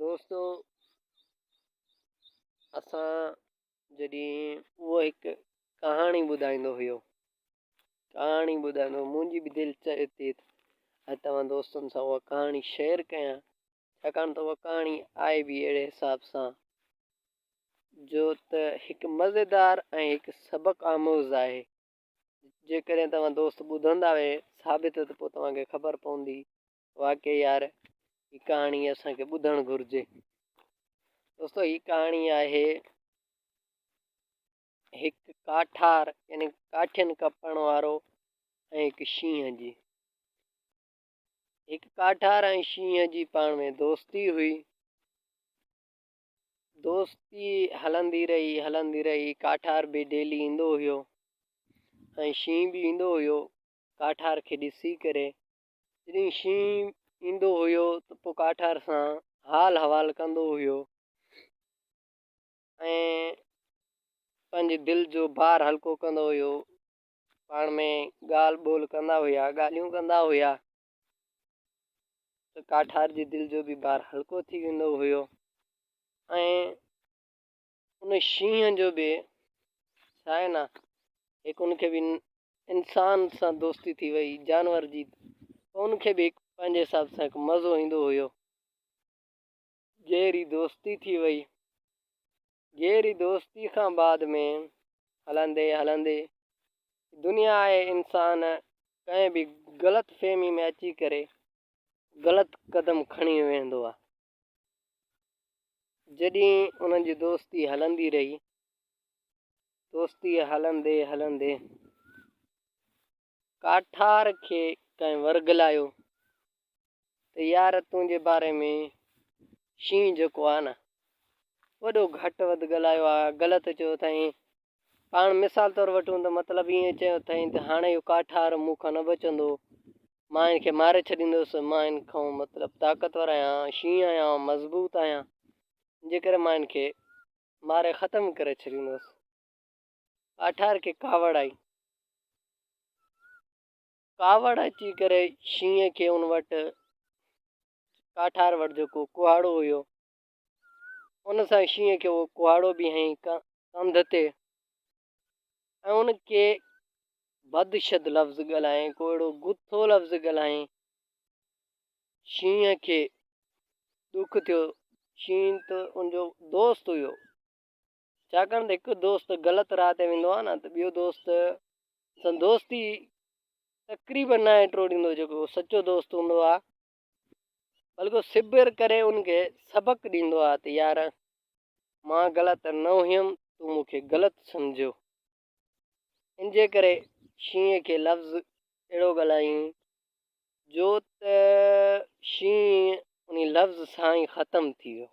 دوستو اسان جڏهن اهو هڪ ڪهاڻي ٻڌائيندو هيو ڪهاڻي ٻڌائيندو منهنجي به دل چاهي ٿي اڄ توهان دوستن سان اها ڪهاڻي شيئر ڪيان ڇاڪاڻ ته اها ڪهاڻي آئي به اهڙي حساب سان جو ته هڪ مزيدار ۽ هڪ سبق آموز آهي جيڪڏهن توهان دوست ٻڌندا وي ثابت ته پوء توهانکي خبر پوندي واقعي يار هي ڪهاڻي اسان کي ٻڌڻ گهرجي دوستو هي ڪهاڻي آهي هڪ ڪاٺار يعني ڪاٺين ڪپڻ وارو ۽ هڪ شينهن جي هڪ ڪاٺار ۽ شينهن جي پاڻ ۾ دوستي هئي دوستي هلندي رهي هلندي رهي ڪاٺار به ڊيلي ايندو هيو ۽ شينهن به ايندو هيو ڪاٺار کي ڏسي ڪري جڏهن شينهن ايندو هيو ته پوء ڪاٺار سان حال حوال ڪندو هيو ۽ پنهنجي دل جو بار هلڪو ڪندو هيو پاڻ ۾ ڳالهه ٻولهه ڪندا هيا ڳالهيون ڪندا هيا ته ڪاٺار جي دل جو به بار هلڪو ٿي ويندو هيو ۽ ان شينهن جو به ڇا آهي نه هڪ ان کي به انسان سان دوستي ٿي وئي جانور جي ان کي به پنهنجي حساب سان هڪ مزو ايندو هيو گهري دوستي ٿي وئي گهري دوستي کان بعد ۾ هلندي هلندي دنيا آهي انسان ڪنهن به غلط فهمي ۾ اچي ڪري غلط قدم کڻي ويندو آهي جڏهن انهن جي دوستي هلندي رهي. دوستي هلندي هلندي ڪاٺار کي ڪنهن ورغلايو ته يار تنهنجي باري ۾ شينهن جيڪو آهي نه وڏو گهٽ وڌ ڳالهايو آهي، غلط چيو اٿائين، پاڻ مثال طور وٺون ته مطلب ائين چيو اٿائين ته هاڻي اهو ڪاٺار مون کان نه بچندو، مان ان کي ماري ڇڏيندس، مان ان کان مطلب طاقتور آهيان، شينهن آهيان، مضبوط آهيان، جنهن ڪري مان ان کي ماري ختم ڪري ڇڏيندس. ڪاٺار کي ڪاوڙ آئي. ڪاوڙ اچي ڪري شينهن کي ان وٽ ڪاٺار وٽ جيڪو ڪهاڙو هيو ان سان شينهن کي اهو ڪهاڙو به هنئي ڪنڌ تي ۽ ان کي بدشد لفظ ڳالهائين، ڪو اهڙو گٿو لفظ ڳالهائين. شينهن کي ڏک ٿيو. شينهن ته ان جو دوست هيو. ڇاڪاڻ ته هڪ دوست غلط راهه تي ويندو آهي نه ته ٻيو دوست سان دوستي تقريبن ناهي ٽوڙيندو جيڪو سچو دوست هوندو آهي بلڪه صبر ڪري ان کي سبق ڏيندو آهي ته يار مان غلط نه هيم تون مون کي غلط سمجهيو ان جي ڪري شينهن کي لفظ اهڙو ڳالهايائين جو ته شينهن ان لفظ سان ئي ختم ٿي ويو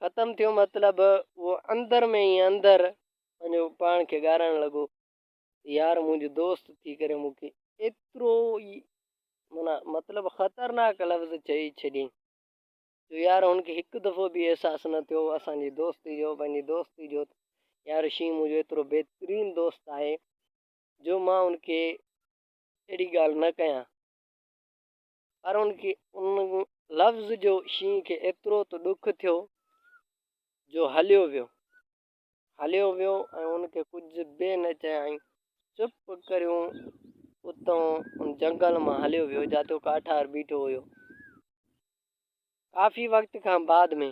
ختم ٿيو مطلب اهو اندر ۾ ئي اندر پنهنجو پاڻ کي ڳارائڻ لڳو يار منهنجو دوست ٿي ڪري مون کي ايترو ئي معنيٰ مطلب خطرناڪ لفظ چئي ڇڏيائين جو يار هن کي هڪ دفعو به احساس نه ٿيو اسان جي دوستي جو پنهنجي دوستي جو ته يار شينهن منهنجو ايترو بهترين دوست آهي جو مان هن کي اهڙي ڳالهه نه ڪيان پر هن کي ان لفظ جو شينهن کي ايترو ته ڏک ٿيو جو هليو ويو هليو ويو ۽ هن کي ڪجهه به نه چيائين. چپ ڪريون اتان ان جنگل مان هليو ويو جاتو ڪاٺار بيٺو هيو. ڪافي وقت کان بعد ۾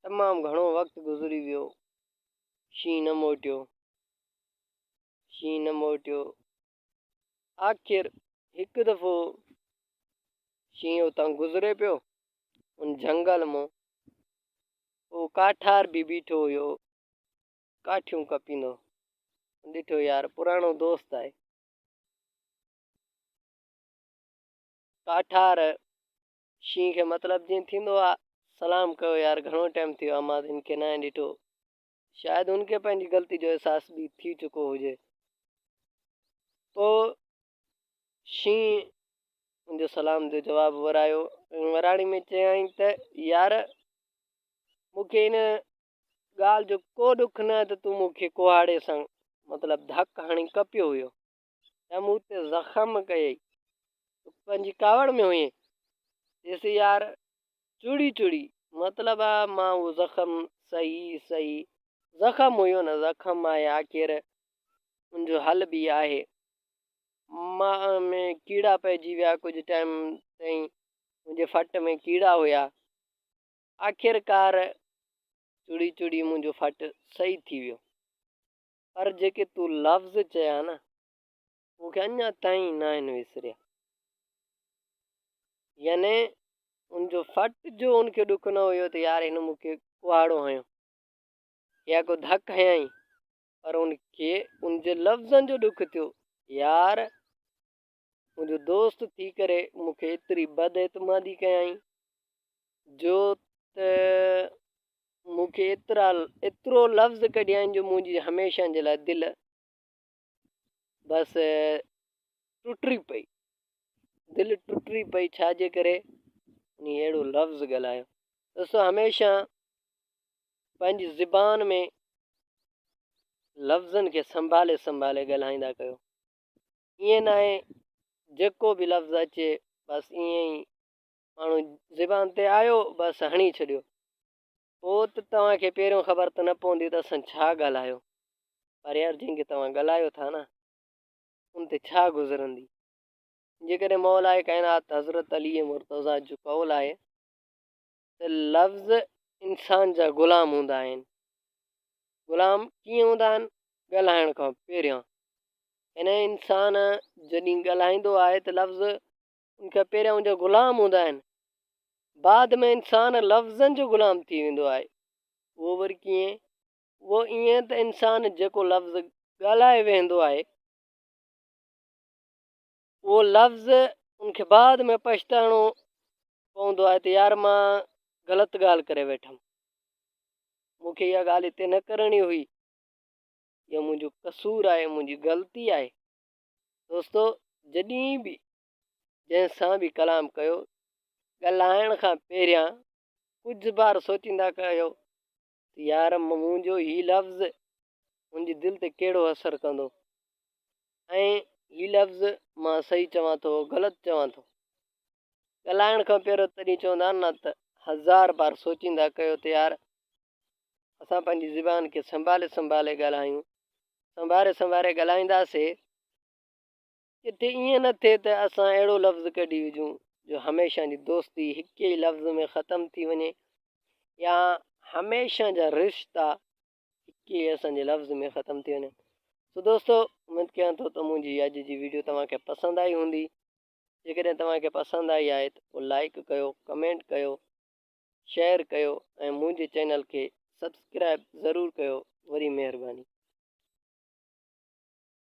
تمام گهڻو وقت گذري ويو. شينهن نه موٽيو. شينهن نه موٽيو. آخر هڪ دفعو شينهن اتان گذري پيو ان جهنگل مون هو ڪاٺار به بيٺو هيو ڪاٺيون ڪپيندو ڏٺو يار پراڻو دوست آهي ڪاٺار شينهن کي مطلب جيئن ٿيندو آهي سلام ڪيو يار گهڻو ٽائيم ٿيو امان هن کي نه ڏٺو شايد هن کي پنهنجي غلطي جو احساس به ٿي چڪو هجي. پوء شينهن ان جو سلام جو جواب ورايو ۽ وراڻي ۾ چيائين ته، يار! مون کي ان ڳالهه جو ڪو ڏک نه ته تون مون کي ڪهاڙي سان، مطلب ڌڪ هڻي ڪپيو هيو. ته مون تي زخم ڪيئي. تون پنهنجي ڪاوڙ ۾ هئين. چيس يار چڙي چڙي مطلب آ مان اهو زخم سهي سهي زخم هيو نه زخم آهي آخر ان جو حل به آهي. ماء ۾ ڪيڙا پئجي ويا ڪجهه ٽائيم تائين منهنجي ڦٽ ۾ ڪيڙا هيا آخرڪار چڙي چڙي منهنجو ڦٽ سهي ٿي ويو. پر جيڪي تون لفظ چيا نه، مون کي اڃا تائين ناهن وسريا. يعني ان جو فٽ جو ان کي ڏک نه هيو ته يار هن مون کي ڪهاڙو هنيو يا ڪو ڌڪ هنيائين، پر ان کي ان جي لفظن جو ڏک ٿيو يار منهنجو دوست ٿي ڪري مون کي ايتري بد اعتمادي ڪيائين جو ته مون کي ايترا ايترو لفظ ڪڍيائين جو منهنجي هميشه جي لاء دل بس ٽٽي پئي دل ٽٽي پئي ڇا جي ڪري انهي اهڙو لفظ ڳالهايو ڏسو هميشه پنهنجي زبان ۾ لفظن کي سنڀالي سنڀالي ڳالهائيندا ڪيو ائين ناهي جيڪو به لفظ اچي بس ائين ئي ماڻهو زبان تي آيو بس هڻي ڇڏيو پوء ته توهان کي پهريون خبر ته نه پوندي ته اسان ڇا ڳالهايو پر يار جنهن کي توهان ڳالهايو ٿا نه ان تي ڇا گذرندي جيڪڏهن مولائي ڪائنات حضرت علي مرتضيٰ جو قول آهي ته لفظ انسان جا غلام هوندا آهن. غلام ڪيئن هوندا آهن؟ ڳالهائڻ کان پهريان. يعني انسان جڏهن ڳالهائيندو آهي ته لفظ ان کان پهريان ان جا غلام هوندا آهن. بعد ۾ انسان لفظن جو غلام ٿي ويندو آهي. اهو وري ڪيئن؟ اهو ائين ته انسان جيڪو لفظ ڳالهائي ويهندو آهي. اهو لفظ ان کي بعد ۾ پڇتائڻو پوندو آهي ته يار مان غلط ڳالهه ڪري ويٺم مون کي اها ڳالهه هتي نه ڪرڻي هئي اهو منهنجو قصور آهي منهنجي غلطي آهي دوستو جڏهن به جنهن سان به ڪلام ڪيو ڳالهائڻ کان پهريان ڪجهه بار سوچيندا ڪيو ته يار منهنجو هي لفظ هن جي دل تي ڪهڙو اثر ڪندو ۽ هي لفظ مان صحيح چوان ٿو غلط چوان ٿو. ڳالهائڻ کان پهريون تڏهن چوندا آهن نه ته هزار بار سوچيندا ڪيو ته يار اسان پنهنجي زبان کي سنڀالي سنڀالي ڳالهايون سنواري سنواري ڳالهائينداسي. ڪٿي ائين نه ٿئي ته اسان اهڙو لفظ ڪڍي هجون جو هميشه جي دوستي هڪ ئي لفظ ۾ ختم ٿي وڃي يا هميشه جا رشتا هڪ ئي اسان جي لفظ ۾ ختم ٿي وڃن سو دوستو اميد ڪيان ٿو ته منهنجي اڄ جي ويڊيو توهان کي پسند آئي هوندي جيڪڏهن توهان کي پسند آئي آهي ته پوء لائڪ ڪيو ڪمينٽ ڪيو شيئر ڪيو ۽ منهنجي چينل کي سبسڪرائب ضرور ڪيو وري مهرباني